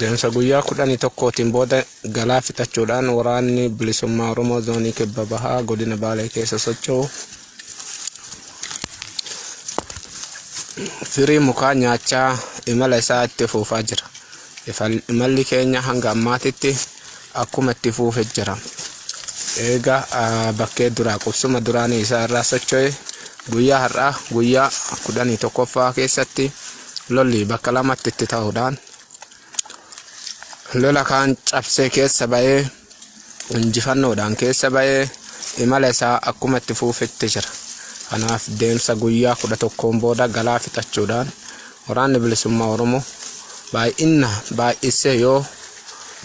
Deemsa guyyaa kudhanii tokkootiin booda galaa fixachuudhaan waraanni bilisummaa Oromoo zoonii kibba bahaa godina Baalee keessa socho'u firii mukaa nyaachaa imala isaa itti fuufaa jira. Imalli keenya hanga ammaatitti akkuma itti fuufe jira. Eega bakkee duraa qubsuma duraanii isaa irraa socho'e guyyaa har'aa guyyaa kudhanii tokkoffaa keessatti lolli bakka lamatti itti ta'uudhaan lola kaan cabsee keessa ba'ee injifannoodhaan keessa ba'ee imala isaa akkuma itti fuufetti jira. Kanaaf deemsa guyyaa kudha tokkoon booda galaa fixachuudhaan Waraanni Bilisummaa Oromoo baay'inna baay'issee yoo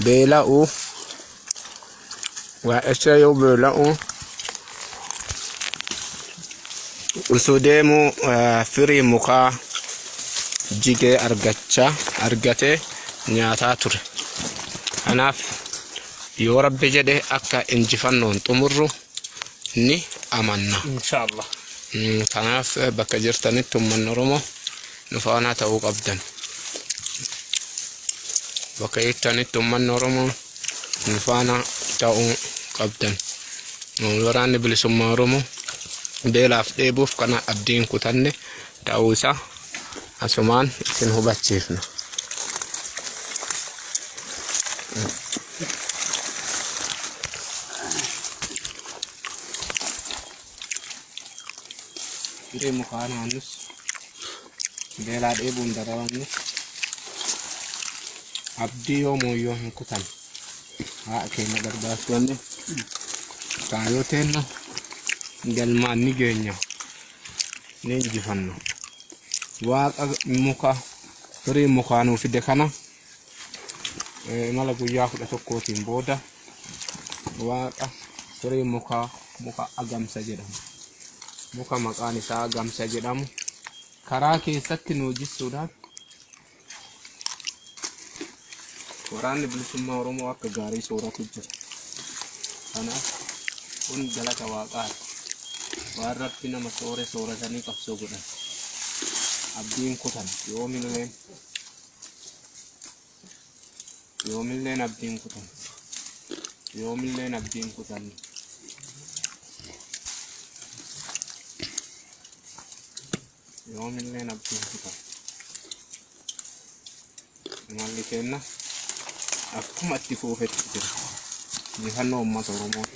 beela'u baay'issee yoo beela'u utuu deemuu eh, firii mukaa jigee argachaa argatee nyaataa ture. Kanaaf yoo rabbi jedhe akka injifannoon xumurru ni amanna. Inshallah. Kanaaf bakka jirtanitti ummanni Oromoo nu faanaa ta'uu qabdan. Bakka jirtanitti ummanni Oromoo nu faanaa ta'uu qabdan. Waraanni bilisummaa Oromoo beelaaf dheebuuf kana abdiin kutanne ta'uu isaa asumaan isin hubachiifna. Hiree mukaa naannus beelaa dheebuun dararamne abdii yoo mooyyoo hin kutan haa keenya gargaartoonni kaayoo teenna galmaan ni geenya. ni injifanna waaqa muka firii mukaa nuu fide kana eh, imala guyyaa kudha tokkootiin booda waaqa firii mukaa muka agamsa jedhamu muka maqaan isaa agamsa jedhamu karaa keessatti nuu jissuudhaan Waraanni bilisummaa Oromoo akka gaarii sooratu jira. Kanaaf kun galata waaqaati. Waan rabbi nama soore sooratanii qabsoo godhan. Abdiin kutan yoomilleen yoomilleen abdiin kutan yoomilleen abdiin kutan yoomillee nabbiin kutan imalli keenna akkuma itti fuufetti jira injifannoo uummata oromootiif